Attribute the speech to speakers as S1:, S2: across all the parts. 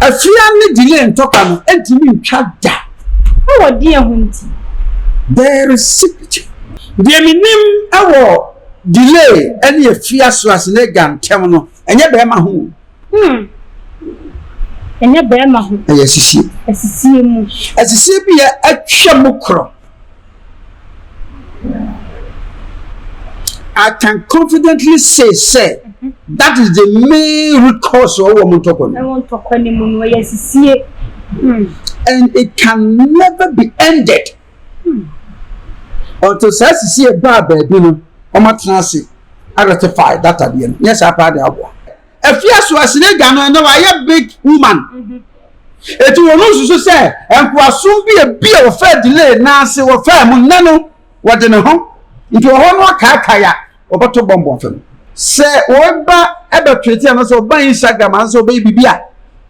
S1: Afia ne delay ntɔkwa no ntumi ntwa da. Wɔ deɛ
S2: ho nti? There
S1: is secret. Deɛ me nim wɔ delay ɛne afia swasenega ntɛm no ɛnyɛ bɛɛma ho o. Hmm.
S2: Ɛnyɛ bɛɛma ho. Ɛyɛ asisie. Asisie
S1: mu.
S2: Asisie bi yɛ
S1: atwa mu korɔ. I can confidently say sɛ that is the main root cause of wɔn ntɔkwa no. Ɛwɔ ntɔkwa no mu no ɛyɛ
S2: sisie.
S1: Hmm. And it can never be ended. Hmm. Until saa sisie baa baabi no, wɔn atena ase ratify that adeɛ no. Nyɛ saa paa de aboa. Efia so asinagya no na wayɛ big woman. Eti wɔn nsusu sɛ nkoasom bi ebi a wɔfaa delay na ase wɔfaa mu nnɛ no wɔde ne ho nti ɔhɔ no akaakae a wɔbɛto bɔmbɔ fam. Sɛ wɔba ɛbɛtwete anaasɛ wɔba Instagram anaasɛ wɔbɛyɛ biribi a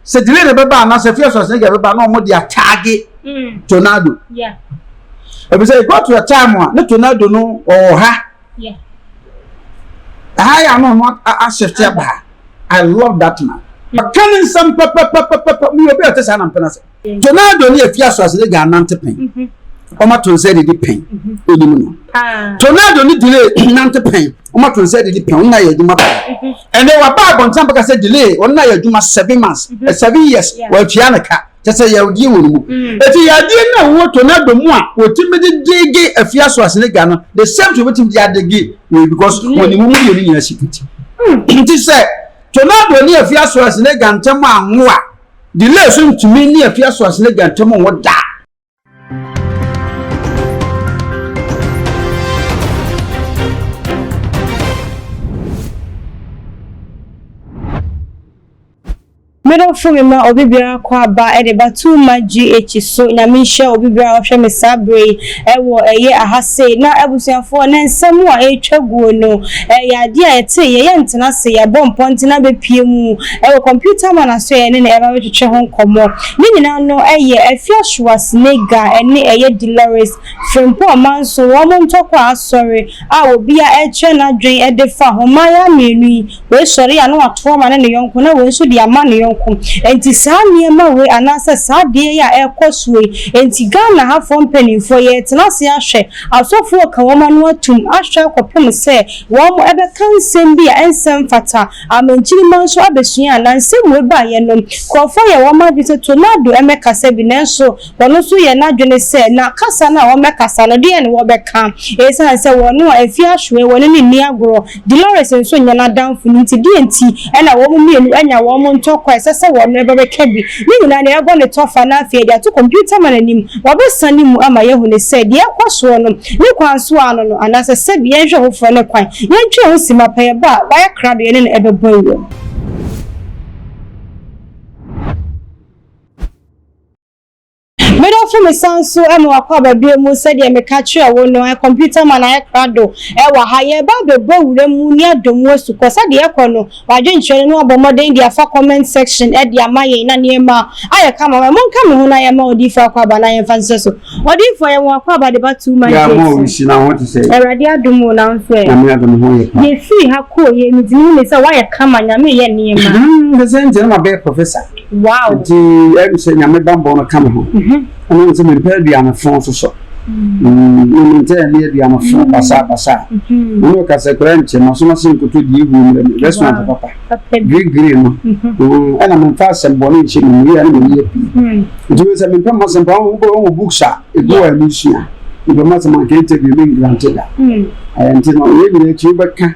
S1: sɛ delay na ɛbɛba anaasɛ Efia so asinagya bɛba na wɔde ataage mm. tornado. Yeah. Ebisɛ it got to a time a ne tornado no ɔwɔ ha. Ɛha yɛ a na ɔno ahyɛfte aba ha. I love that man. Ɔka ne nsɛm pɛpɛpɛpɛpɛ. Meyɛ obi a ɔte saa na mpɛ no ase. Tonado ne afi asoase ne gya nante pɛn. Ɔma to nsa didi pɛn. Onim no. Tonado ne delay nante pɛn. Ɔma to nsa didi pɛn. Ɔno na yɛ adwuma pɛn. Ɛnɛ waba abɔnten abɛka sɛ delay ɔno na yɛ adwuma seven months, seven years, wɔatua ne ka. kyɛ sɛ yadeɛ wɔ ne mu ɛti mm. yadeɛ no a wɔwɔ tornado mu a wɔtumi de dege afia so asene ga no the same to wɔtumi de adege wei because mm. wɔn ne mu mmienu nyinaa si kuti mm. nti sɛ tornado ne afia so asene ga ntɛm anwo a delay so ntumi ne afia so asene ga ntɛm anwo daa
S2: Medɔfo me ma obi biara kɔ aba de ba too much GH so nyame nhyɛ obi biara ɔhwɛ me saa bere yi ɛwɔ ɛyɛ aha sei na abusuafoɔ na nsɛm a ɛretwa guo no ɛyɛ adeɛ a yɛte yɛ yɛ ntena se yɛabɔ mpɔnten abɛpie mu ɛwɔ computer man aso yɛ ne na ɛba bɛtwetwe ho nkɔmmɔ Ne nyinaa no yɛ Afia Schwarzenegger ne ɛyɛ Dolores Frimpong Amanson wɔn ntɔkwa asɔre a obia ɛrekyerɛ n'adwen de fa ho, mmayaa mmienu yi, wei sɔre a na wato ama ne ne yɔnko na wei nso de ama ne yɔnko, enti saa nneɛma wei anaasɛ saa adeɛ yi a ɛrekɔ soɔ yi enti Ghana ha foɔ mpaninfoɔ yɛretena ase ahwɛ asɔfoɔ reka wɔn ano atom ahwɛ akɔpem sɛ wɔn bɛka nsɛm bi a ɛnsɛ mfata Amen nkyirimma nso abɛsua a na nsɛm wei ba yɛ no nkurɔfoɔ yɛ wɔn adwene sɛ Tornado mmɛkasa bi nanso wɔn nso yɛ n'adwene sɛ na kasa no a wɔbɛkasa no deɛn na wɔbɛka ɛsiane sɛ wɔn a afie ahweɛ wɔn no nni agorɔ Delores nso nyɛ n'adamfo no nti deɛn nti na wɔn mmienu anya wɔn ntɔkwa a ɛsɛ sɛ wɔn no bɛka bi ne nyinaa no yɛbɔ no tɔfa na afei yɛde ato computer man anim wɔbɛsane mu ama yɛahunu sɛ deɛ ɛrekɔ soɔ no Ne kwan so ara no no, anaasɛ sɛbi, yɛnhwɛ foforɔ ne kwan, yɛntwerɛ ho si mapa yɛbɔ a, wayɛ krado yɛne no ɛbɛbɔ awuo. Medɔfo mesan nso ma wakɔ aba bio mu sɛdeɛ meka kyerɛɛ wo no, computer man ayɛ krado wɔ ha, yɛreba abɛbɔ awura mu ne adɔ mu asukɔ, sɛdeɛ ɛkɔ no, W'adwenkyerɛ no abɔ mmɔden de afa comment section de ama yɛn na nneɛma a ayɛ kama ma monka me ho na yɛmma odiyifoɔ akwaaba na yɛmfa nhyehyɛ so. Odiyifoɔ yɛwɔ akwaaba de ba two months late
S1: so. Awurade adom o
S2: nanso ɛ
S1: yɛfiri ha kɔɔ
S2: yei metumi hu ne sɛ wayɛ kama nyame yɛ nneɛma. Nti sɛ nti na ma bɛyɛ
S1: professor nti
S2: ɛm
S1: sɛ nyame banbɔ no ka me ho ɛnam sɛ mempɛ aduane fɔn nso so. Na me ntae ne adua no fo basabasa. Ɔne ɔkasa koraa nkyɛ, masom ase nkoto deɛ ɛwuo mmerɛ me, restaurant papa, giri giri no, ɛna memfa asɛm bɔne nhyɛ me mu, yei ara na meyɛ pii. Nti wei sɛ mempɛ mo asɛm paa, wo bɛ wo books a ɛgu hɔ a ɛmu sua, mepɛ mo asɛm anka interview me ngrante da. Ɛɛ nti no, wei nyinaa akyi wo bɛka.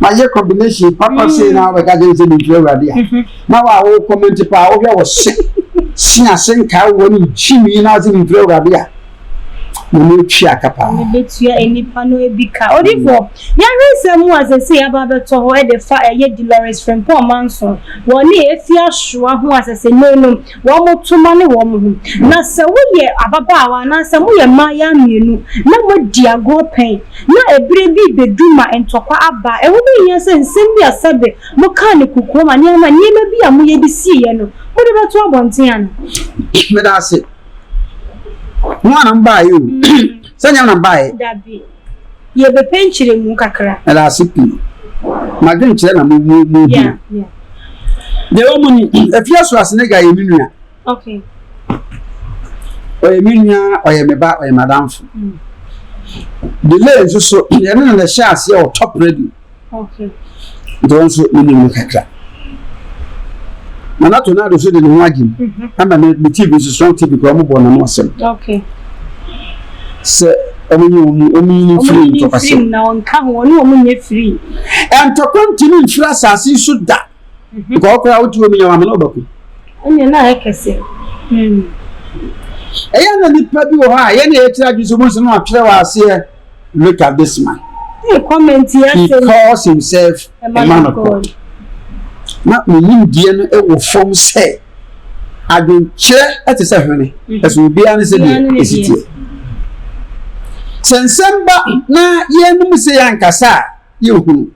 S1: mayɛ combination papa sei mm. na wobɛka kyɛn sɛ mentu awurade a mhm. na wa wo comment paa wohwɛ wo se se ase nkaa wɔ ne nkyi mi na ase mentu awurade a na ne atwi aka paa ne bɛtua nnipa
S2: no bi ka odifoɔ yɛhwɛ nsɛm mu a sɛsɛ yɛaba bɛtɔ hɔ de fa ɛyɛ Dolores Frimpong manso wɔ ne ɛfi asoa ho asɛsɛ no nom wɔn toma ne wɔn ho. Na sɛ woyɛ ababaawa anaasɛ moyɛ mmaayaa mmienu na moadi agorɔ pɛn na ɛberɛ bi rebɛdu ma ntɔkwa aba a, ɛho bɛhia sɛ nsɛm bi a sɛbe mokaa no kokoam anaa nneɛma bi a moyɛ de siiɛ no, mode bɛto abɔnten anaa? Meda ase.
S1: Mo ara na mobaeɛ o. Sɛ nnyɛ me na mebaeɛ.
S2: Yɛbɛpɛ nkyerɛmu kakra. Meda ase pii.
S1: M'adwenkyerɛ na mo mo mo hia. Deɛ ɛwɔ mu ni, Afie Asuasenega yɛ me nua. Ɔyɛ me nua, ɔyɛ me ba, ɔyɛ m'adamfo. Delay nso so, yɛne no na ɛhyɛɛ aseɛ wɔ Top Radio.
S2: Ntɔn nso
S1: menim no kakra. Nana Tornado nso de ne ho agye mu ama me me TV nso Strong TV kura wɔn bɔ n'ano asɛm sɛ wɔn nye wɔn wɔn nyi ne firi ntɔkwasɛm.
S2: Ntɔkwa
S1: ntumi mfiri asase so da nkɔɔ koraa wotu wɔn nya wɔn amena ɔbɛko. Ɛnna na ayɛ kɛse. Ɛyɛ na nipa bi wɔ hɔ a yɛn na yɛkyerɛ adwene sɛ wɔn nsa no atwerɛ wɔ aseɛ. look at this man
S2: he calls himself
S1: a man of God na ne nimdeɛ no wɔ fam sɛ adwenkyerɛ te sɛ hwene ɛso obiara ne sɛ deɛ ɛsi teɛ sɛ nsɛm ba na yɛnom sɛ yɛankasa a yɛhunu.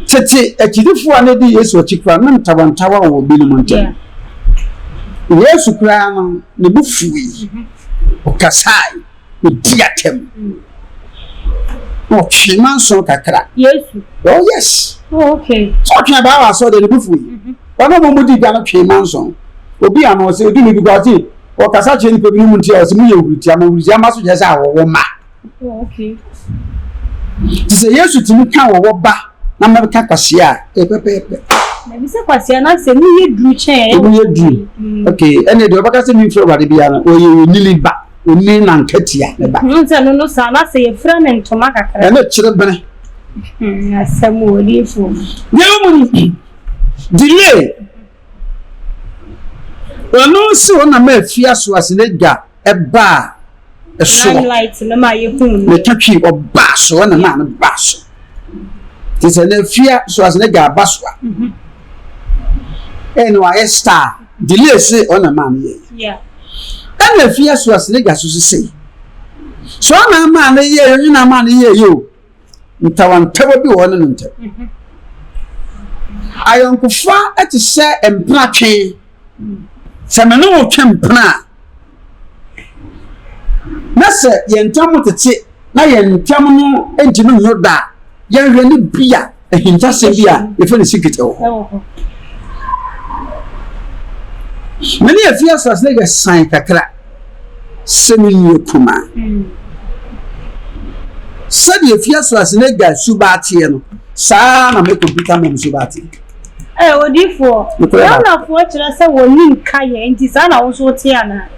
S1: Tete akyidifo a na edi Yesu akyi koraa na ntawantawa wɔ binom ntam. Yesu koraa no, ne bo fuwii, ɔkasae, odii atɛm, na ɔtwee manso kakra. Yesu. Oh
S2: yes.
S1: Oh okay. So
S2: ɔtwee baa wɔ asɔre
S1: ne bo fuwii. Wɔn a wɔn di gya no twee manso. Obi a na ɔsɛ odu ne bi kɔ ɔte ɔkasa kyerɛ nipa bi no mu nti a ɔsɛ mo yɛ huritia mo huritia mma so kyerɛ sɛ awɔwɔ mma. Nti sɛ Yesu tumi ka wɔ wɔ ba na mɛka kwasea a, ɛyɛ pɛpɛɛpɛ. Mebisa kwasea
S2: na sɛ mu yɛ duru kyɛn a ɛyɛ wɔ. Mu yɛ duru. Mm.
S1: Ok, ɛnna deɛ ɔbɛka sɛ mefrɛ Awurade biara no, ɔyɛ onyini ba, onyini na nkatia ne ba. Ɛno sɛ no no saa na sɛ
S2: yɛfira ne ntoma kakra. Ɛno kyerɛ bene. Hmm,
S1: asɛm
S2: wɔ odiifo. Deɛ ɔmu no,
S1: delay. Ɛno nso na ma afia so ase na gya. ɛbaa ɛsoɔ
S2: na ɛtwa twi ɔbaa
S1: so ɛna maa no baa so te sɛ na fia so ase na gya aba so a mhm. ɛna wayɛ star delay se ɔna maa no yɛ
S2: ɛna fia
S1: so ase na gya so sese so ɔna maa no yɛ ɛna maa no yɛ yɛ o. ntawantawa bi wɔ ɔne no ntam. Mhm. Ayɔnkofa te sɛ mpena twe. Sɛ me ne wo twe mpena a, na sɛ yɛn ntam tete na yɛn ntam no ntumi nyɛ da a, yɛnhwɛ no bi a Ahintasɛm bi a yɛfrɛ no secret wɔ hɔ. Me ne afi asase no yɛsan kakra sɛ me nua kuma. Sɛdeɛ afi asase no agya suba ateɛ no, saa na me kɔmputa mom suba ateɛ. Ɛ
S2: odifoɔ, Ghanafoɔ kyerɛ sɛ wɔni nka yɛ, nti saa na wo nso wote anaa?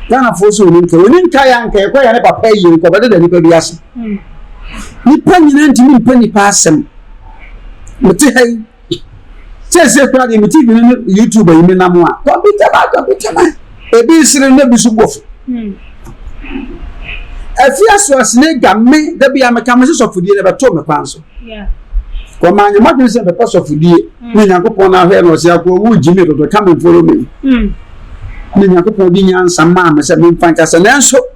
S1: Ghanafoɔ sɛ wɔni nka, wɔni nka yɛ anka yɛkɔ yɛ ne papa yie nkɔbɛdeda nipa bi ase. Nnipa nyinaa ntumi mpɛ nnipa asɛm. Mete ha yi, seesei koraa deɛ mete bi ne YouTube yi menam a, kɔmputa ma kɔmputa ma, ebi sere na ebi so bɔ fo. Afi hmm. asoasene ga me da bi a meka me sɛ sɔfodie na ɛbɛtoo me kwan so.
S2: Wɔma anyɛ
S1: m'adwene sɛ mɛpɛ sɔfodie hmm. ne Nyankopɔn na ahwɛ na ɔsɛ akɔ ɔwu gyi me dodo ka me mforo me. Hmm. Ne Nyankopɔn di nyansa maa me sɛ memfa nkasa nanso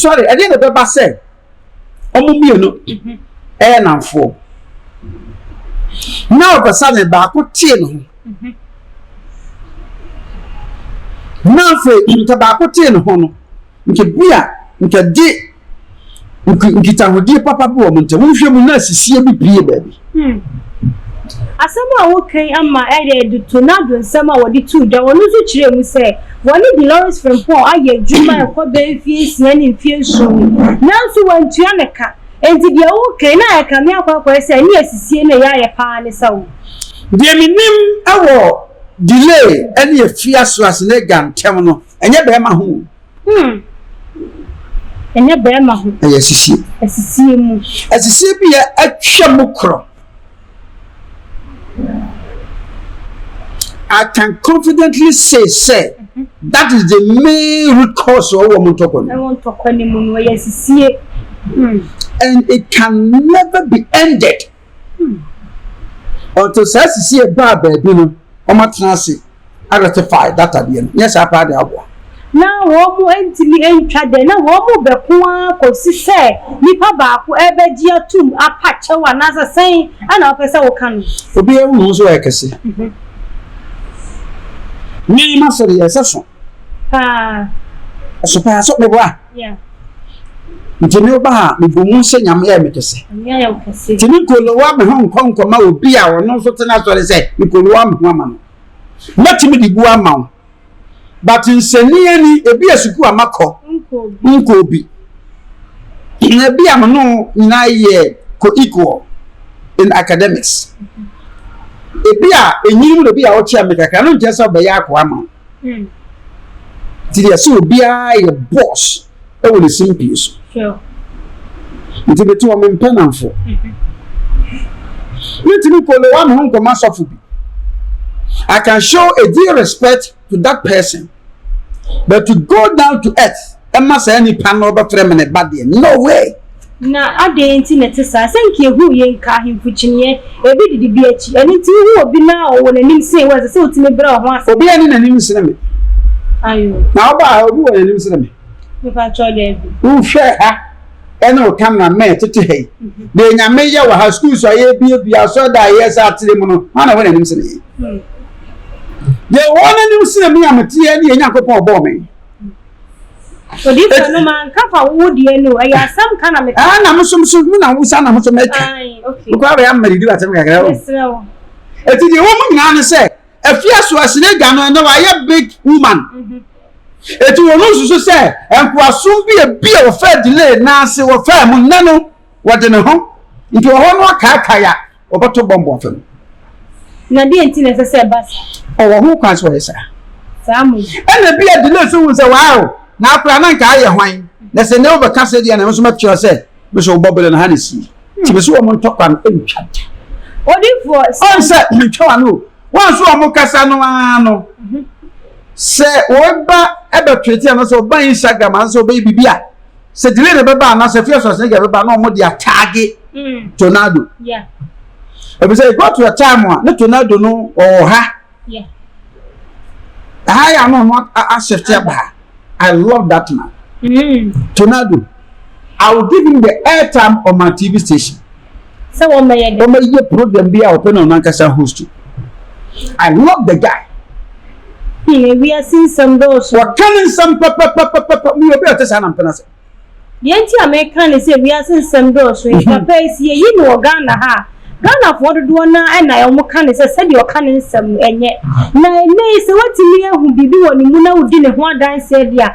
S1: sɔre ɛdeɛ na ɛbɛba sɛ wɔn mmienu ɛyɛ namfoɔ na ɔbɛsa ne baako tee ne ho na afei nka baako tee ne ho no nka bi a nka de Nkitahodie papa bi wɔ mo ntam. Wohwɛ mu na asisie bi pue baabi. Hmm.
S2: Asɛm a woka yi ama ɛyɛ de tornado nsɛm a wɔde too dwa. Wɔn nso kyerɛɛ mu sɛ wɔne Dolores Frimpong ayɛ adwuma ɛkɔ bɛyɛ mfeɛ nsia ne mfeɛ nson ni, nanso wɔantua no ka. Enti deɛ woka yi na ɛkame akwaakwaɛ sɛ ɛne asisie na ɛyɛ ayɛ paa ne sa o. Deɛ menim
S1: wɔ delay ne afi asoase ne agya ntam no, ɛnyɛ bɛrima ho o. Hmm.
S2: Ɛnyɛ bɛrima ho. Ɛyɛ asisie. Asisie mu. Asisie bi yɛ
S1: atwa mu korɔ. I can confidently say sɛ mhm. that is the main root cause of wɔn ntɔkwa no. Ɛwɔ ntɔkwa no mu no ɛyɛ asisie. Hmm. And it can never be ended. Until saa sisi yɛ baa baabi no wɔn atena ase a rectify data deɛ no nyɛ saa paa deɛ aboa. Na wɔn
S2: ntumi ntwa dɛ na wɔn bɛko ara kɔsi sɛ nipa baako ɛbɛgye atum apa kyɛw anaasɛ sɛn ɛna wopɛ sɛ woka no. Obi ahu ne ho so ayɛ
S1: kɛse. Me ma sɛ deɛ ɛsɛ so. Paa. Ɛso paa so meboa. Ntsi me ba a, mebɔ mu sɛ Nyame yɛ me kɛse. Ntsi me nkolowa me ho nnkɔ nkɔma obi a ɔno so tse n'asɔre sɛ mekolowa me ho ama no. Mɛtumi de bu ama wo, but nsɛnniiɛ ni, ebia sukuu a makɔ nkɔɔ bi, na ebia me ne wo nyinaa yɛ co-equal in academics. Ebia enyinom na ebia wokyɛn me kakra, ɛno nkyerɛ sɛ ɔbɛyɛ akoa ama wo. Hmm. Nti deɛ sɛ obiara yɛ boss wɔ ne simpie so. Sure. Nti bete wɔ me mpɛ namfo. Mentumi kolowa me ho nkɔma sɔfo bi. I can show a due respect to that person, but to go down to earth. ɛma saa nipa no ɔbɛfrɛ me ne ba deɛ, no way! Na adɛn
S2: nti na ɛte saa? Sɛ nka ehu ye nka ahemfo kyiniiɛ, ebi didi bi akyi. Ɛno nti wohu obi na ɔwɔ n'anim sene wo a, ɛsɛ sɛ wotumi brɛ wo ho ase. Obiara nni n'anim sene me.
S1: Ayo.
S2: Na wo baa ha, obi
S1: wɔ n'anim sene me? Mepakyɛw,
S2: daabi. Wohwɛ ha
S1: ɛne wo camera man tete ha yi, mhm. deɛ nyame yɛ wɔ ha, schools a yɛbiabia, asɔreda a yɛsɛ atere mu no, hwan na ɛwɔ n'anim sene yɛn? Hmm. Deɛ wɔn anim sene me a mete yɛ ne yɛ Nyankopɔn ɔbɔɔ me.
S2: Odiyifo no ma nka fa wo deɛ no ɛyɛ asɛm ka na meka. Ah na muso muso mu na
S1: wusa na muso mɛka. Mekɔ abɛyɛ
S2: ama didi wa asɛm
S1: kakra o. Eti deɛ wɔn mu nyinaa ne sɛ efi aso asene agya no ɛnɛ wayɛ big woman. Eti wɔn nsusu sɛ nkoasom bi ebi a wɔfɛ delay naase wɔfɛ mu nnɛ no wɔde ne ho nti ɔhɔ no akaakae a wɔbɛto bɔmbɔ afa mu. Na
S2: deɛ nti na ɛsɛ sɛ ɛba saa? Ɔwɔ ho kwan sɛ
S1: ɔyɛ saa. Saa mo
S2: yi. Ɛna bi a delay
S1: so hu sɛ waaw na akora na nka ayɛ hwan na sɛ ne wobɛka sɛ deɛ na ɛho so mɛkyerɛ sɛ me so wobɔ bere no ha na sie nti me so wɔn ntɔkwa no ntwa da. Odifoɔ.
S2: Ɔn sɛ mentwa wa
S1: no wɔn so wɔn kasa no ara no sɛ wɔba ɛbɛtwete anasɛ ɔba Instagram anasɛ ɔbɛyɛ biribi a. sɛ delay na ɛbɛba anaasɛ fear Schwarzenegger bɛba na wɔn de ataage mm. tornado
S2: ebi sɛ
S1: it go to a time a ne tornado no ɔwɔ ha ɛha yɛ ano ho ahyɛfte aba ha I love that man mm. tornado I will give him the airtime on my TV station. sɛ wɔmmɛyɛ
S2: dɛn? Wɔmmɛyɛ program bi
S1: a ɔpɛ na ɔno ankasa host. I love the guy. Hmm,
S2: ewiase nsɛm dɔɔso. Wɔka ne nsɛm
S1: pɛpɛpɛpɛpɛ. Meyɛ obi a ɔte saa na mpɛ no ase. Deɛ nti a
S2: meka ne sɛ wiase nsɛm dɔɔso yi, papa yi, sɛ yɛyi no wɔ Ghana ha a, Ghanafoɔ dodoɔ no ara na wɔka ne sɛ sɛdeɛ ɔka ne nsɛm no, ɛnyɛ. Na ɛnnɛ yi, sɛ woatumi ahu biribi wɔ ne mu na wodi ne ho adanseɛ deɛ a,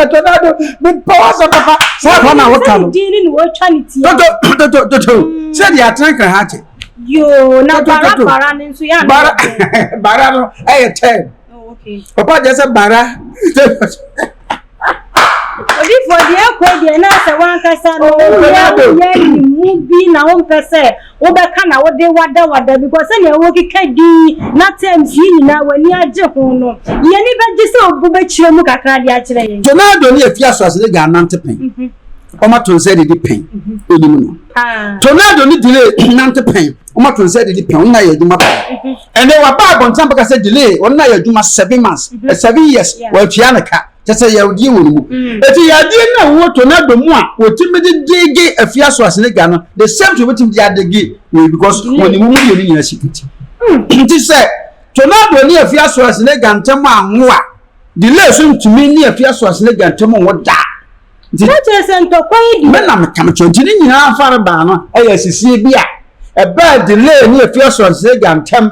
S1: ɛtɔ da do mepɛ w'asɛm papa saa kɔ na woka no totototototo sɛ deɛ atena nkra ha te yoo na
S2: bara bara no nso yɛ bara bara no
S1: ɛyɛ tɛm papa gyɛ sɛ bara
S2: obi fɔ deɛ ɛkɔ deɛ na sɛ wankasa no woyɛ woyɛ ne mu bi na wompɛ sɛ Wobɛka na wode wadawada because sɛnea wokeka din na terms yi nyinaa w'ani agye ho no, yɛn ani bɛgye sɛ obu bɛkyerɛ mu kakra de akyerɛ yɛn. Tornado ne afi aso
S1: asene gya anante pɛn, wɔato nsa adidi pɛn, wonim no. Tornado ne delay nante pɛn, wɔato nsa adidi pɛn, wɔn nyinaa yɛ adwuma pɛn. Ɛnnɛ waba abɔnten abɛka sɛ delay, wɔn nyinaa yɛ adwuma seven months, seven years, wɔatua no ka. kyɛ sɛ yadeɛ wɔ ne mu ɛti mm. yadeɛ no a wɔwɔ tornado mu a wɔtumi de dege afie aso ase ne gya no the same thing wɔtumi de adege wei because mm. wɔn ne mu mu yɛ ne nyinaa si kuti mm. nti sɛ tornado ne afie aso ase ne gya ntɛm anwo a delay so ntumi ne afie aso ase ne gya ntɛm anwo daa nti kyerɛ sɛ
S2: ntɔkwa yi di mɛ na mekamekyɛ nti
S1: ne nyinaa afare baa no ɛyɛ asisie bi a ɛbɛɛ delay ne afie aso ase ne gya ntɛm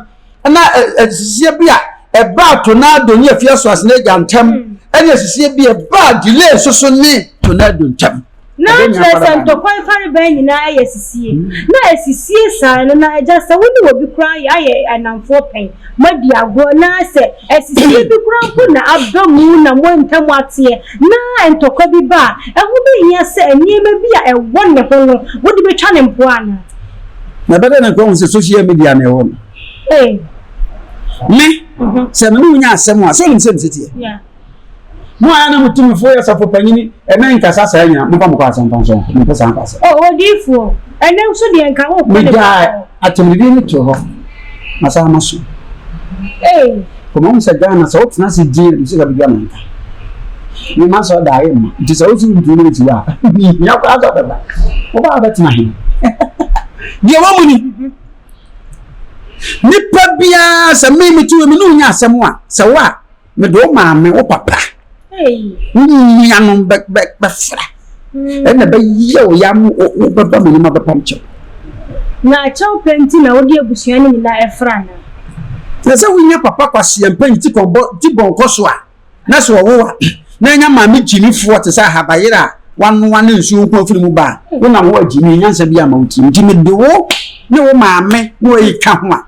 S1: na asisie bi a ɛbaa tornado ne afie asoase no agya ntam ɛne asisie bi a ɛbaa delay nso so ne tornado ntam. na kyerɛ sɛ
S2: ntɔkwa mfarebaa nyinaa ayɛ asisie hmm. na asisie saa no na agya sɛ wo ne wɔ bi koraa yɛ ayɛ anamfoɔ pɛn moadi agorɔ na sɛ asisie bi koraa mpo na aba mu na moantam ateɛ na ntɔkwa bi ba a ɛho bɛhia sɛ nneɛma bi a ɛwɔ ne ho no wode bɛtwa ne mpoa anaa na ɛbɛda
S1: na nkɔhu sɛ social media na ɛwɔ no me mhm. sɛ mene wonya asɛm a sɛ onim sɛ meseteɛ
S2: mo
S1: a na motumifo yɛ safo panyini ɛmɛ nkasa saa nyina momfa mokɔ asɛmpa nso mempɛ saa nkasa ɔdiifoɔ
S2: ɛnɛ nso deɛ nka wo megyaa
S1: atemdedie no to hɔ masaa ma so
S2: Kɔma hu sɛ
S1: Ghana sɛ wotena ase din a ne sika bɛdwa na nka ne mma sɛ ɔda ayɛ mma nti sɛ wosi wontumi ne nsi wɔ a hia koraa sɛ ɔbɛba wobaa wobɛtena he deɛ wɔ mu ni nipa biara sɛ me mete wɔ mu ne wonya asɛm a sɛ wo a mede wo maame wo papa
S2: wo nuanom
S1: bɛfra ɛna bɛyɛ wo ya mo wobɛba me nima bɛpam kyɛw na
S2: kyɛw pɛ nti na wode abusua no nyinaa ɛfra na na sɛ
S1: wonya papa kwaseɛ mpa nti kɔbɔ ti bɔnkɔ so a na sɛ ɔwo a na ɛnya maame gyimifoɔ te sɛ ahabayere a wanoa ne nsuo nko afiri mu ba a wonam hɔ agyimi nyansa bi ama wo tirim nti mede wo ne wo maame na ɔyi ka ho a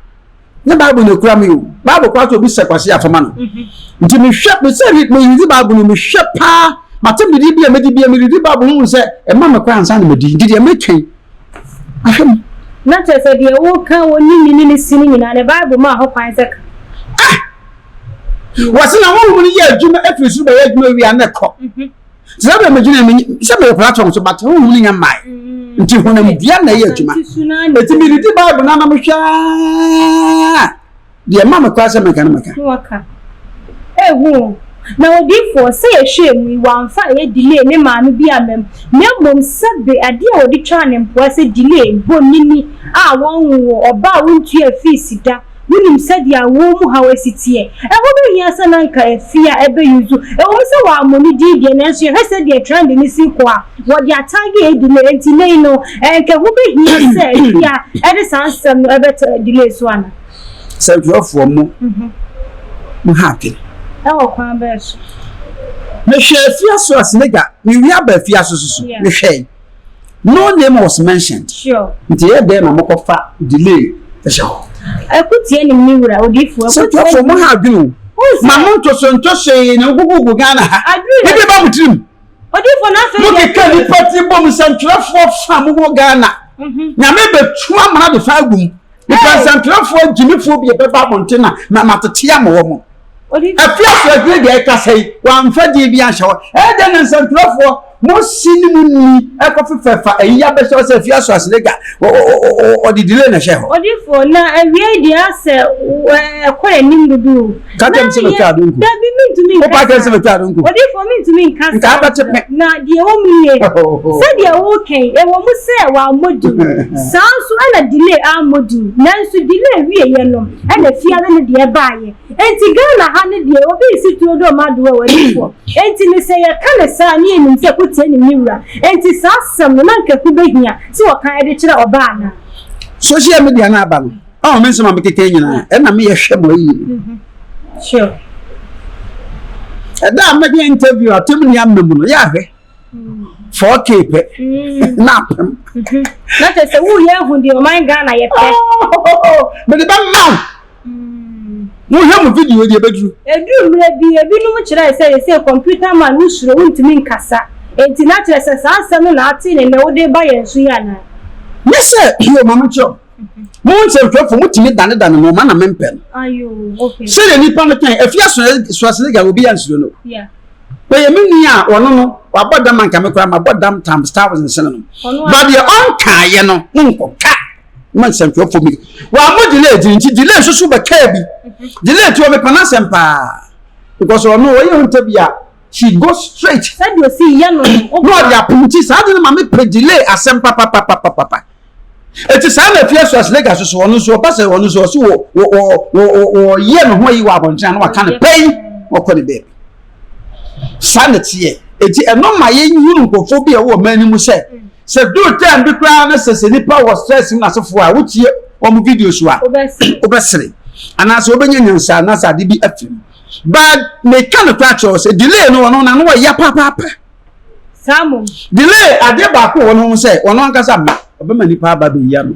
S1: nyɛ bible na ekura mi o bible kora sɛ obi sɛ kwasi atoma no nti mehwɛ mesɛ meredi bible no mehwɛ paa matem didi bi a medi bi a meredi bible no mu sɛ ɛma me kora ansa na medi nti deɛ metwɛn ahwɛ
S2: mu na kyerɛ sɛ deɛ woka wɔ ne ne ne si no nyinaa ne bible ma ho kwan sɛ ka ah!
S1: wɔse na honhom no yɛ adwuma afiri soro bɛyɛ adwuma wie a na ɛkɔ mhm. sɛ bɛ me gyina me sɛ me platform so bata honhom no nya mmae mm. nti honamdua na ɛyɛ adwuma ɛti medidi bible no anam hwɛ deɛ ma mekora sɛ meka no meka
S2: na odiifoɔ sɛ yɛhwɛɛ mu yi wamfa ɛyɛ delay ne maame bi amam na mmom sɛbe adeɛ a wɔde twaa ne mpoa sɛ delay bɔ nini a wɔnwo ɔba a wontua fii sida Wunim sɛdeɛ awoɔ mu haw si teɛ. Ɛho bɛhia sɛ na anka afie a ɛbɛyi nso. Ɛwom sɛ wɔammɔ no din deɛ, nanso yɛhwɛ sɛdeɛ trend no si rekɔ a, wɔde ataage redi no. Enti nnɛ yi no, anka ɛho bɛhia sɛ afie a ɛde saa nsɛm no bɛto delay so anaa? Sɛ ntwerɛfoɔ
S1: mo mo ha adwene. Ɛwɔ
S2: kwan bɛn so?
S1: Mehwɛɛ afiase a Senegal, mewia baa afiase nso so, mehwɛe. No name was mentioned. Sure. Nti yɛ dɛn
S2: na mo kɔ
S1: fa delay ɛhyɛ hɔ? Ɛko tie nim
S2: ne wura odiifo. Ɛko tie nim. Mo ha adwene
S1: o. Ma mo ntoso ntoso yi na gugugu Ghana ha. Ebi ba mo tirim. Odiifo na afei. Mo keka nipa ti bom sɛntwerɛfoɔ fa mo wɔ Ghana. Nyame bɛ tu amana de fa agum. Nipa nsɛnkyerɛfoɔ agyimifoɔ bi bɛba abɔnten na ma matete ama wɔn. Afi asoɔdwene deɛ ɛkasa yi, wɔamfa din bi anhyɛ hɔ. Ɛdɛ na nsɛnkyerɛfoɔ mo si ne mo ni ɛkɔfefɛfa ayi abɛhyɛ hɔ sɛ afi asoɔsene ga ɔde delay na ɛhyɛ hɔ. Odifoɔ, na awiei deɛ asɛ ɛkɔ anim dodo o. ka kyɛm sɛ metwa ado nku dabi mentumi nka wopa kyɛm sɛ metwa ado nku odifoɔ mentumi nka saa nka abɛte pɛ na deɛ ɛwɔ mu nie sɛdeɛ worekɛn ɛwɔ mu sɛ wammɔ din saa nso ɛna delay ammɔ din nanso delay wieɛ no ɛna fiare no deɛ ɛbaeɛ enti ghana ha no deɛ obi nsi tuo dɔ ma adoɔ wɔ odifoɔ enti ne sɛ yɛka ne saa ne yɛnim sɛ kotie ne ne wura enti saa asɛm no na nkaku bɛhia sɛ wɔka ɛde kyerɛ ɔbaa no social media no aba no ɔn me nsɛm a mekeka nyinaa ɛna meyɛ hwɛ ma ayi mm-hmm. sure ɛda a mɛde interview atem ne ama mu no yɛ ahwɛ mm. four k pɛ mm. na apem mm-hmm. na kyɛ sɛ woyɛ ahu deɛ ɔman ghana yɛ pɛ oh, mede bɛma mm. wohwɛ mu video deɛ bɛduru ɛduru mmerɛ bi ebinom kyerɛɛ sɛ yɛ sɛ computer man wosuro wontumi nkasa enti na kyerɛ sɛ saa asɛm no na ate ne nnɛ wode ba yɛn so yɛ anaa ne sɛ yɛ ɔma no kyerɛ mo ho nsɛmfɛfo motumi danedane mo ma na mempɛ no sɛdeɛ nnipa no kan afia Schwarzenegger obi yɛ nsuro no bɛyɛ me nua a ɔno no wabɔ dam anka me koraa mabɔ dam tam star wars nsene no ba deɛ ɔnkaeɛ no monkɔka ma nsɛmfɛfo mi wɔamɔ delay gyiri nti delay nso so bɛkaa bi delay ti wɔ mepɛ no asɛm paa because ɔno ɔyɛ ho ntabi a she go straight sɛdeɛ ɔsi yɛ no
S2: no ɔde apom nti
S1: saa de no ma mepɛ delay asɛm papapapapapa Eti saa na afie so aslega so so ɔno nso ɔba sɛ ɔno nso ɔso wɔ wɔ wɔ wɔ ɔyɛ ne ho ayi wɔ abɔnten ano aka ne pɛn ɔkɔ ne baabi saa na teɛ eti ɛno ma yɛn hunu nkurɔfoɔ bi a ɛwɔ ɔman no mu sɛ sɛ duru tɛn bi koraa na sɛ sɛ nipa wɔ stress mu n'asefoɔ a wotie wɔn video so a wobɛsere anaasɛ wobɛnya nyansa anaasɛ ade bi afiri mu baa meka no koraa kyerɛ sɛ delay no ɔno na no ɔyɛ papaapa. Saa
S2: mmom. Delay
S1: adeɛ baako wɔ ne ho sɛ ɔno ankasa mma ɔbɛma nipa aba bɛyi ano.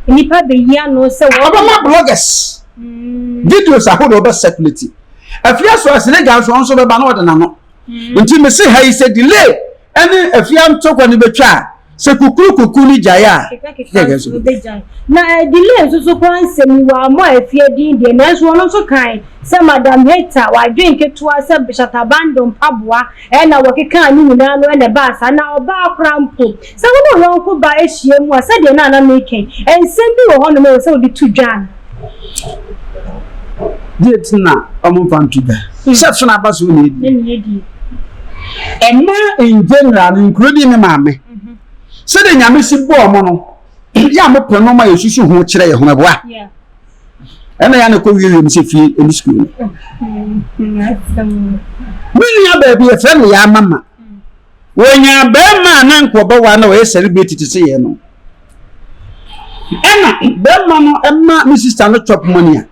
S1: Nipa
S2: bɛyi ano sɛ wɔn. Ɔbɛma bloggers.
S1: Mm. Videos ahodoɔ bɛ circulate. Afia so asiniga nso ɔnso bɛba na ɔde n'ano. Mm. Nti mese ha yi sɛ delay ɛne afia ntokwa no bɛtwa a. sɛ kukuru kukuru no gyae a kekakeka nso
S2: no bɛgyae na delay nso so koraa nsɛm yi wɔ ammɔ afie din deɛ nanso ɔno nso kae sɛ madam Heta wadwen ketewa sɛ Shatabando mpaboa ɛna wɔkekaa ne nyinaa no ɛna ɛbaa saa na ɔbaa koraa mpo sɛ wo ne wo yɔnko ba ahyia mu a sɛdeɛ na na meka yi nsɛm bi wɔ hɔnom ɛwɔ sɛ wode to dwa no
S1: Deɛ nti na wɔmfa nto dwa sɛ sono aba so na ɛdi. Ɛma in general no nkuro di ne maame. Sɛdeɛ Nyame si bɔɔ mo no, yɛ a mopɛ nɔma yɛ susu ho kyerɛ yɛ ho ɛboa.
S2: Ɛna
S1: yɛ na kɔ wie wiem sɛ fie ɛne sukuu no. Me nua baabi yɛfrɛ no yɛ amama. Wɔnyaa barima a na anka ɔbɛware na ɔyɛ celebrity te sɛ yɛn no. Ɛna barima no ma me sista no chop money a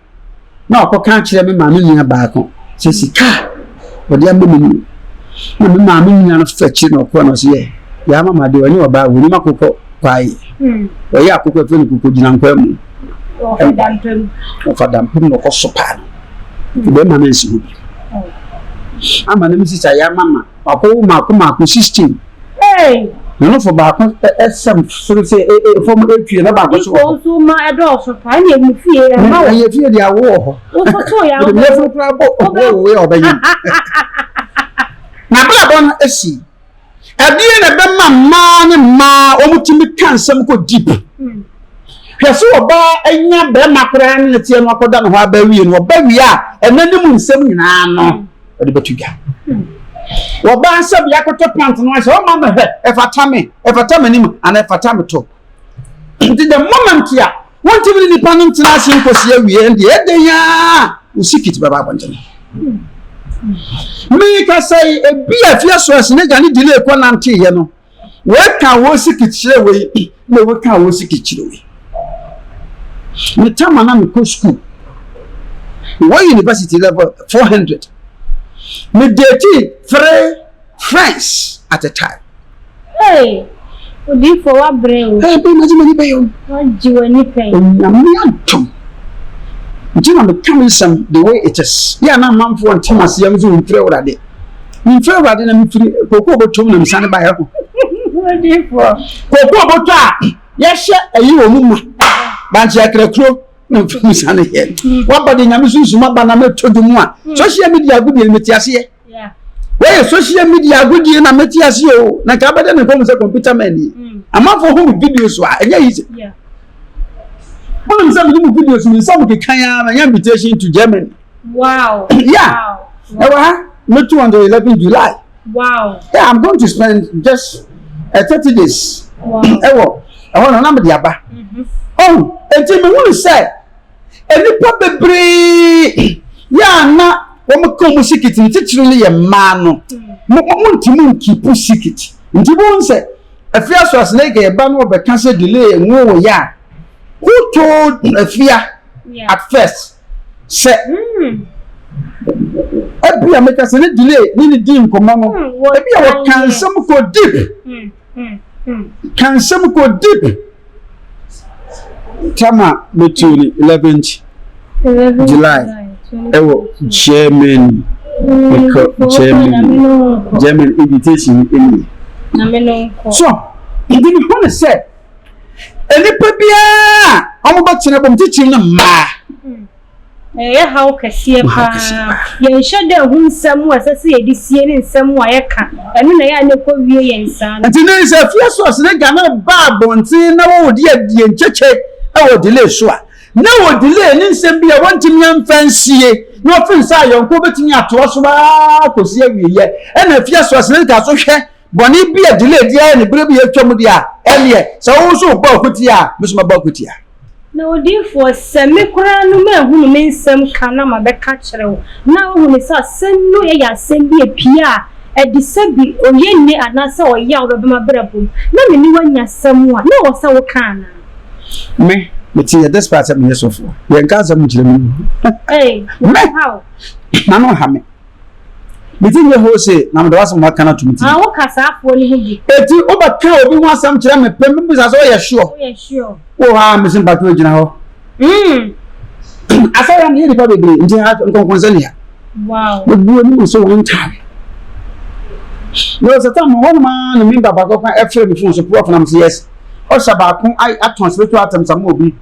S1: na ɔkɔka akyerɛ me maame nua baako sɛ sika a wɔde ama me no na me maame nua no fɛ kyerɛ na ɔkɔɔ na ɔsɛ yɛ yɛ ama ma deɛ ɔnyɛ ɔbaa wɔnim akokɔ kwae hmm. ɔyɛ akokɔ ɛfɛ no koko gyina nkwa mu ɔfa dampem na ɔkɔ so paa no ɛbɛma no ansi hɔ bi ama no me sista yɛ ama ma Ɔkɔ wo mako mako system. Hey! Na no fo baako ɛsɛm soro sɛ fam ɛtwie na baako so wɔ hɔ. Nso ma ɛdɔɔso
S2: pa ɛne ɛmu fie yɛ ma wɔ. Ɛyɛ fie deɛ awo wɔ hɔ.
S1: Wososo yɛ awo. Ɛde
S2: meforo kura bɔ
S1: ɔwɔ yɛ ɔbɛyɛ. Na bla bla no ɛsi. Ɛdeɛ na ɛbɛma mmaa ne mmaa wɔn ti mi ka nsɛm kɔ deep. Hmm. Hwɛ so ɔbaa ɛnya bɛrima koraa ne ne teɛ no akɔda ne hɔ abɛwie no ɔbɛwie a ɛnɛ ne mu nsɛm nyinaa no. Hmm. ɔde bɛto dwa wɔbaa sɛ bia kɔtɔ pant no sɛ ɔma mɛhwɛ ɛfata me ɛfata me anim anaa ɛfata me to nti the moment a wontumi ne nipa no ntena ase nkɔsi awie deɛ ɛdɛn a wosi kit bɛba abɔntene meka sɛ ebi a fie so ɛsene gya ne delay kɔ nanteeɛ no Weka wo siki kyerɛ wei na weka wo siki kyerɛ wei. Me tam a na mekɔ sukuu wɔ university level four hundred. Me dating three friends at a time. Hey,
S2: odiifo wabrɛ o. Hey, bɛn na gye m'ani pɛyɛ o.
S1: Wagye w'ani pɛyɛ.
S2: Onyame adom.
S1: Nti na meka me nsɛm the way it is. Yɛ a na amanfoɔ nte m'aseɛ nso nfiri awurade. Mefrɛ Awurade na mefiri kooko bɔtɔ mu na mesane baeɛ ho.
S2: Kooko bɔtɔ a
S1: yɛhyɛ ayi wɔ mu ma bankye akrakuro na mefiri mu sane yɛ. Mm. Waba de nyame sunsum aba na mɛtɔ dwom mu a mm. social media agodie no mete aseɛ. Wɔyɛ
S2: social
S1: media agodie na mete aseɛ o na nka abɛdɛ ne nkɔm sɛ computer man ni. Mm. Amanfoɔ ho me video so a ɛnyɛ yi sɛ. Wonim sɛ mede mu video so me nsa mu kekan a manya invitation to Germany. Wow.
S2: yeah.
S1: Wow. Ewa, wow. me too on the 11 July. Wow. Yeah, I'm
S2: going to
S1: spend just uh, 30 days. Wow.
S2: Ewa,
S1: ewa na nam diaba. Mm-hmm. Oh, enti me wunu sɛ nnipa bebree yɛ a na wɔn ka wɔn sikiti ne titiri no yɛ mmaa no mo mo ntumi nkipu sikiti nti mo n sɛ afia so aseneke yɛ ba no wɔbɛka sɛ delay ɛnwo wɔ yɛ a who told afia at first. Sɛ ebia meka sɛ ne delay ne ne dii nkɔmmɔ no, ebia wɔka nsɛm kɔ deep, ka nsɛm kɔ deep. Tama metuo ne 11th July ɛwɔ Germany, mekɔ Germany, Germany invitation ni. So, nti mehɔ ne sɛ, Nnipa biara a wɔbɛtena bom titiriw no mmaa.
S2: Ɛyɛ haw kɛseɛ paa. Yɛnhyɛ da hu nsɛm a ɛsɛ sɛ yɛde sie ne nsɛm a yɛka. Ɛno na ɛyɛ a na ɛkɔwie yɛn saa no. Nti nnɛ yi sɛ Efesos
S1: ne Ghana ba abɔnten na wɔredi adie nkyekye wɔ delay so a, na wɔ delay ne nsɛm bi a wɔntumi amfa ansie na wɔfiri nsa ayɔnko wɔbɛtumi atoa so ara kɔsi awieeɛ. Ɛna Efesos no da so hwɛ Bɔne bi a delay di ayɛ ne bere bi atwa mu deɛ a, ɛnneɛ, sɛ wo nso wobɔ akutia a, me nso mɛbɔ akutia. Na odiyifoɔ,
S2: sɛ me koraa no manhunu me nsɛm ka na mabɛka akyerɛ wo, na wohunu sɛ asɛm no yɛ asɛm bi a epue a, ɛde sɛ bi oye nne anaasɛ ɔyaw bɛba m'abrabɔ mu, na me ne wo anya asɛm a, na ɛwɔ sɛ woka anaa? Me,
S1: mete yɛ desperate sɛ meyɛ sɔfoɔ, yɛnka asɛm nkyerɛ me wura. Ei, na
S2: wonhaw. Me,
S1: na no nha me. Mete nne hoo se, na meda wo ase ma woaka no ato me tirim. Woka saa foɔ no ho
S2: bi? Enti wobɛka obi
S1: ho asɛm kyerɛ me pɛ mebisa sɛ woyɛ sure? Woyɛ sure? Wowɔ hɔ a mese mpakyɛw gyina hɔ. Asɛyɛ no yɛ nnipa bebree nti ha nkɔnkɔnsɛ ne ya. Mebu
S2: anim so one
S1: time. Mewɔ satan mu hɔnom ara na member baako ka ɛfrɛ me phone so prof na mese yes. Ɔhyɛ baako atɔn spiritual items ama obi.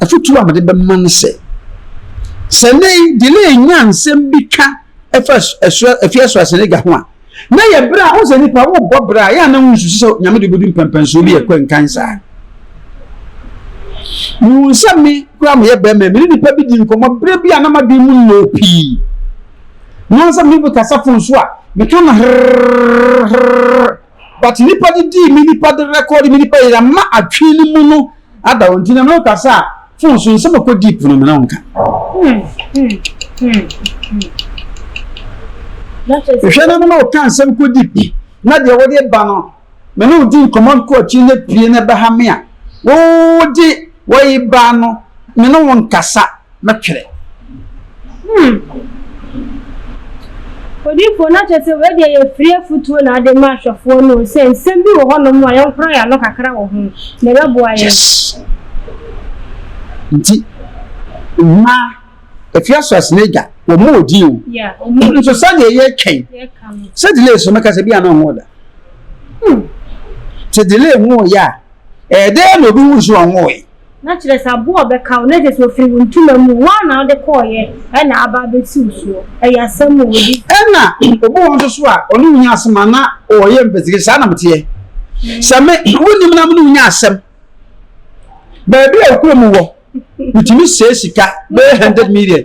S1: Afotu a mede bɛma ne sɛ, sɛ nnɛ yi delay nya nsɛm bi ka ɛfa afie so asɛnnagya ho a, na yɛ bere a wosɛ nipa wobɔ bere a yɛ a na wonsusu sɛ nyame de bɛdu mpɛmpɛnsoɔ bi ɛkɔ nkan saa. Mehu sɛ me koraa meyɛ bɛrima me ne nipa bi di nkɔmmɔ bere bi a na madwen mu nnɔɔ pii. Nansa me bi kasa fon so a meka no herrrr but nipa de dii me nipa de record me nipa yɛ ama atwene ne mu no ada wɔn ti na mɛ kasa a phone so nsɛm ɛkɔ deep no mena nka hwɛ na mena ɔka nsɛm kɔ deep na deɛ wɔde ba no mene odi nkɔmɔ nkɔ akyi na pie na ɛbɛha me a wɔde wɔyi ba no mene wɔn kasa no twerɛ.
S2: Hmm. Odiyifoɔ no akyɛ sɛ wei deɛ yɛfiri afutuo na ade ma ahwɛfoɔ no sɛ nsɛm bi wɔ hɔnom a yɛnkorɔ yɛn ano kakra wɔ ho na ɛbɛboa yɛn. Yes.
S1: Nti mmaa efi asoase n'agya wɔn mu odi o. Yeah, wɔn mu. Nso
S2: sɛdeɛ
S1: yɛtwɛn sɛ delay so mɛka sɛ bi a na ɔho da. Hmm. Te delay ho yɛ a ɛyɛ dɛ na obi hu nso ɔho yɛ. Na kyerɛ sɛ aboa a
S2: ɔbɛka wo na kyerɛ sɛ ɔfiri wo ntoma mu o, wo ara na wode kɔeɛ na aba abɛsi wo soɔ. Ɛyɛ asɛm o, ɔdi. Ɛna obi wɔ
S1: hɔ nso so a ɔne wo nya asɛm a na ɔyɛ investigation, saa na meteɛ. Sɛ me, wonim na me ne wo nya asɛm. Baabi a ɔkura mu wɔ, metumi sɛe sika bɛyɛ hundred million.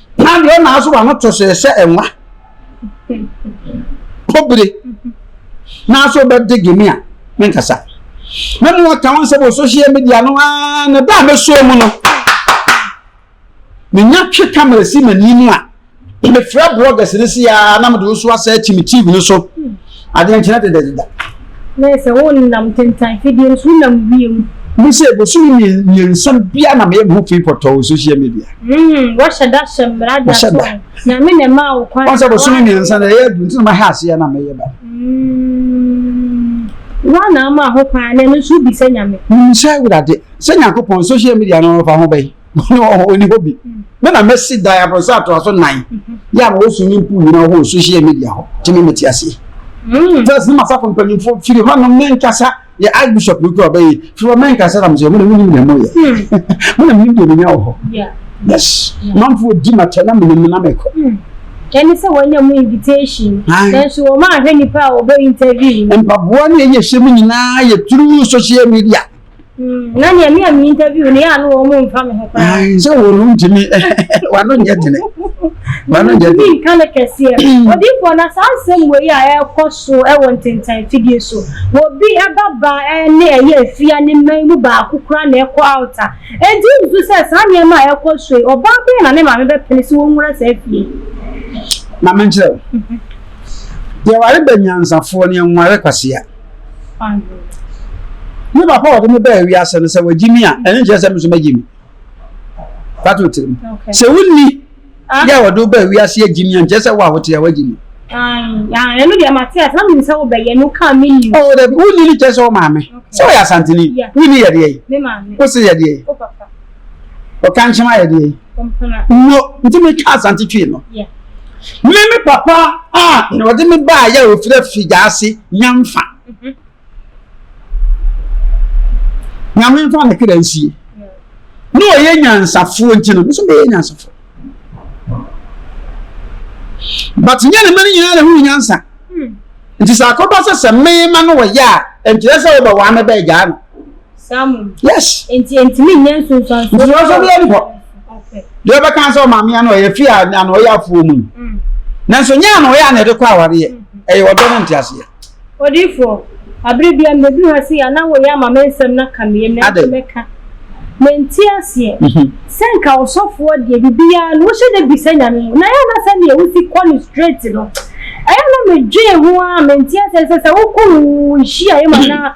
S1: Hwan deɛ ɔna aso wano to so ɛsɛ ɛnwa kɔbire n'aso bɛ de gemi a me nkasa me mu ɔka wɔn sɛ wɔ social media no aa na da a me so mu no me nya twe kamera si m'ani mu a mefrɛ bloggers no si aa na mede nso asɛ akyi me tv no so Adwenkyerɛ deda deda. Bɛyɛ sɛ
S2: wonnam tentan fidie no so, wonam wiem.
S1: Me sɛ bosome mmiensa biara na meyɛ me ho fii pɔtɔɔ wɔ social media. Mm, wɔhyɛ
S2: da hyɛ mmara de ato ho. Nyame na ɛmaa wo kwan. Wɔn sɛ bosome mmiensa na ɛyɛ
S1: adu nti na mahɛ aseɛ na meyɛ ba. Mm,
S2: wɔn na ama ho kwan na ɛno nso wobisa Nyame. Mimisa Awurade
S1: sɛ Nyankopɔn social media no fa ho bɛn. ɔni hɔ bi me na mɛsi dan aborosa atoa so nan yɛ a ma wɔ swimming pool nyina hɔ social media hɔ gye me mete aseɛ fɛs ne masafo mpanyimfoɔ firi hɔ no menkasa yɛ archbishop no kura ɔbɛyɛ firi hɔ menkasa na mesɛ mena menim na moyɛ mena menim deɛ menya wɔ hɔ yes manfoɔ di matɛ na menim na mekɔ ɛne sɛ
S2: wɔanya mu invitation nanso wɔn ahwɛ nipa a wɔbɛ interview mpaboa ne ɛyɛ
S1: hyɛ mu nyinaa yɛ through social media na nea
S2: mi a mi interview ne yɛ ano wɔn mo nfa mi ho koraa. sɛ wɔn no ntumi
S1: wano nyɛ tene wano nyɛ tene. nka ne kɛseɛ
S2: odiifoɔ na saa nsɛm wɔ yi a ɛrekɔ so ɛwɔ ntentan fidie so wɔ bi ɛba ba ɛne ɛyɛ efia ne mman mu baako kura na ɛkɔ out a edi nso sɛ saa nneɛma a ɛrekɔ so yi ɔbaa bɛyɛ na ne maame bɛpene sɛ wɔn nwura saa fie. maame
S1: nkyerɛw deɛ ware bɛ nyansafoɔ ne nware kwasia. Me papa a ɔde me baa wiase no, sɛ wagye me a, ɛno nkyerɛ sɛ me nso mɛgye me. Fa to tirim. Sɛ wonni yɛ a wɔde wo baa wiase agye me a, nkyerɛ sɛ wo a wote a wagye me. Ɛno
S2: deɛ mate ase, na menim sɛ wobɛyɛ no kaa me ni. Oh, dabi, wonni no kyerɛ
S1: sɛ wo maame. Sɛ ɔyɛ Asanteni, wonni yɛdeɛ yi. Wo se yɛdeɛ
S2: yi. ɔka
S1: nkyɛn ayɛ deɛ nwo nti mi twa asante twi no mi mi papa a na ɔde mi ba ayɛ ofira fi gya ase nyanfa mhm. nyame nfa ne kra nsie na ɔyɛ nyansafoɔ nti no nso bɛyɛ nyansafoɔ but nyɛ ne mma no nyinaa na ɛho nyansa hmm. nti sɛ akɔba sɛ sɛ mema no wɔyɛ a ɛnkyerɛ sɛ wobɛwaa mɛbɛagyaa no Saa mu no.
S2: Yes. Nti
S1: entumi nyɛ
S2: nsunsuansoɔ. Nsunsuansoɔ bi ɛni hɔ. Okay.
S1: Deɛ ɔbɛka sɛ ɔmaame ano ɔyɛ fi a ano ɔyɛ afuo mu. Mm. Nanso nyɛ ano ɔyɛ anɛ de kɔ awareɛ. Mm-hmm. Ɛyɛ ɔdɔ ne nteaseɛ. Odiifoɔ,
S2: abiri bia mmebi hɔ se ana wɔyɛ ama me nsɛm na ka meyɛ na ɛtɔ mɛka. Menti aseɛ. Mm-hmm. Sɛ nka ɔsɔfoɔ deɛ bibiara no wohyɛ dɛ bisa nyame ho. Na yɛ na sɛ neɛ wosi kɔ no straight no. Ɛyɛ na medwee ho a menti aseɛ sɛ sɛ wokɔ wo nhyia yɛ ma na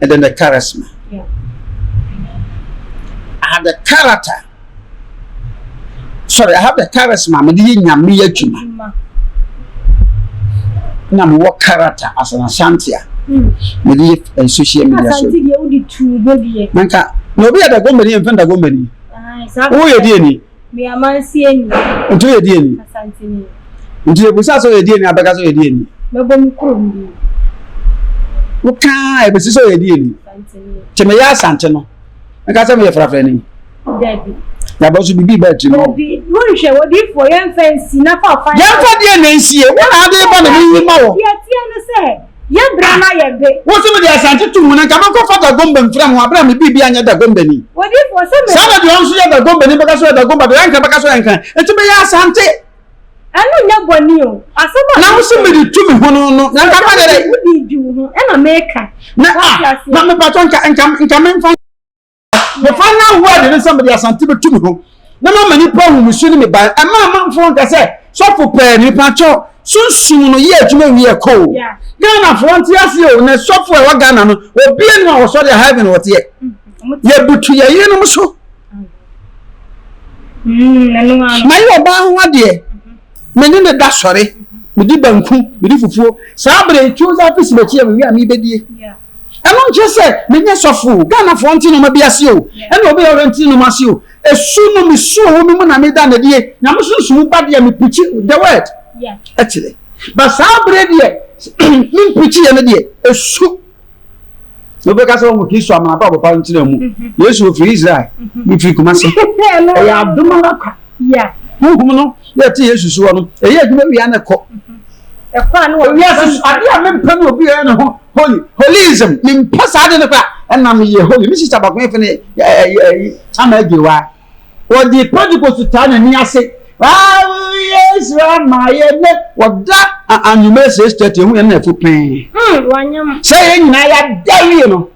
S1: and then the charisma. Yeah. I have the character. Sorry, I have the charisma. I'm the nyame adwuma. Na me wɔ character as an Ashantia. Hmm. Me the eh, social media so.
S2: Nanka, na obi ada
S1: gomani mfa da gomani. Wo yɛ di ani. Meamansie
S2: ni. Nti woyɛ deɛ ni?
S1: Asante
S2: ni. Nti yɛbusa
S1: sɛ ɔyɛ deɛ ni abɛka sɛ ɔyɛ deɛ ni? Mɛbɔ me kurom ni. Woka a ɛbɛsi sɛ ɔyɛ deɛ ni? Asante ni. Nti meyɛ
S2: asante no
S1: mɛka sɛ meyɛ frafra ni? Dabi.
S2: Yɛabɔ so bibi ba
S1: tirim hɔ. Dabi wonhwɛ wodiifoɔ
S2: yɛmfa nsi na fa ɔfa. Yɛmfa deɛ na nsie
S1: wo na ade ba na meyi ma wɔ. Deɛ ɛteɛ ne sɛ.
S2: Yɛ bra na yɛ be. Wo se mede Asante to
S1: mu na nka mɛkɔ fa Dagomba mfira me ho aberɛ a me biribi anyɛ Dagombani. Odiyifoɔ sɛ me. Saa na
S2: deɛ ɔno nso yɛ Dagombani
S1: bɛka sɛ ɔyɛ Dagomba deɛ ɔyɛ Ankara bɛka sɛ ɔyɛ Ankara. Enti meyɛ Asante. Ɛno nyɛ
S2: bɔne o. Asɛm a. Na wo se mede tu me
S1: ho no no na nka mɛyɛ dɛn? Wodii dwi wo ho na
S2: meka. Na ah, na
S1: mepatɔ nka, nka, nka memfa. mefa no ahoɔ ade no sɛ mede asante bɛtu me ho na mama nnipa ahu me su ne me ban ɛma amanfoɔ nka sɛ sɔfo pɛɛ nipa kyɛw sunsum no yɛ adwuma wie ɛkɔɔ ghanafoɔ nte aseɛ o na sɔfo a ɛwɔ ghana no obie no a wɔsɔ deɛ heaven wɔteɛ yɛbutu yɛ yerenom so
S2: mayɛ ɔbaa ho adeɛ
S1: mene ne da sɔre mede banku mede fufuo saa berɛ ɛtwo sɛ apesi makyi a mewie a mebɛdie Ɛno nkyerɛ sɛ menyɛ sɔfo o, Ghanafoɔ nte nnoɔma bi ase o, ɛna obi a ɔyɛ nte nnoɔma ase o. Ɛsu no mesuo wɔ me mu na meda no adie. Nyame sunsum mu ba deɛ me preachi the word. Ɛkyerɛ. But saa berɛ deɛ me preachi yɛ no deɛ ɛsu. Na obi ka sɛ wɔn Kristo amana pa papa nkyerɛ mu. Yesu ofiri Israel, mefiri Kumasi. Ɛyɛ adom ara kwa. Honhom no yɛ te Yesu soɔ no, ɛyɛ adwuma wia na ɛkɔ.
S2: Wiase so adeɛ a mempɛ
S1: no obi yɛ ne ho holy holism mempɛ saa de no kora ɛna meyɛ holy me sista baako yɛfɛ ne Chama Agyewa wɔde Pentecost taa n'ani ase Yesu ama yɛ ne wɔda anwummerɛ six thirty ehu yɛn na ɛfo pɛn sɛ
S2: yɛn nyinaa
S1: yɛada wie no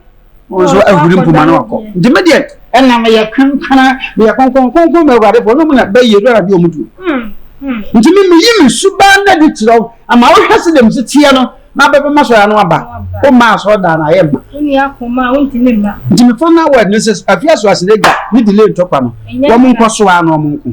S1: wɔn nso ahuri mpoma no akɔ nti me deɛ ɛna meyɛ kankana meyɛ kɔnkɔn kɔnkɔn ma awurade fo ɔnom na bɛyɛ dɔra bi ɔmo tuo nti me meyi me suban na de kyerɛ wo ama wohwɛ se dɛm seteɛ no na bɛbɛma sɔre ano aba woma asɔre daa na ayɛ mma
S2: nti me fo na wɔ ɛdene
S1: sɛ afia so asene gya ne delay ntɔkwa no wɔn nkɔ so a na wɔn nko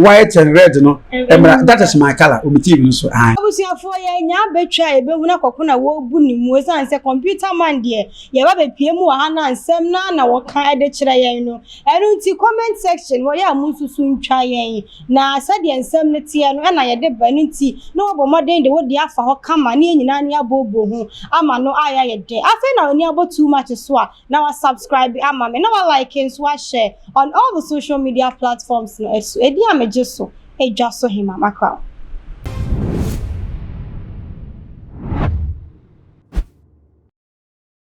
S1: white and red no ɛmra mm. that is my color omi tv no so an. abusuafoɔ yɛ nya
S2: abɛtwa a yɛbɛhunu akɔko na wɔrebu ne mu ɛsiane sɛ computer man deɛ yɛba bɛpie mu wɔ ha na nsɛm na na wɔka ɛde kyerɛ yɛn no ɛno nti comment section wɔyɛ a mo nsusu ntwa yɛn na sɛdeɛ nsɛm no teɛ no ɛna yɛde ba ɛno nti na wɔbɔ mmɔden de wode afa hɔ kama ne yɛn nyinaa ne abɔbɔ ho ama no ayɛ ayɛ dɛ afei na ɔni abɔ too much so a na wa subscribe ama me na wa like nso wa share on all the social media platforms no ɛso ɛdi a megye so ɛdwa so hema makraw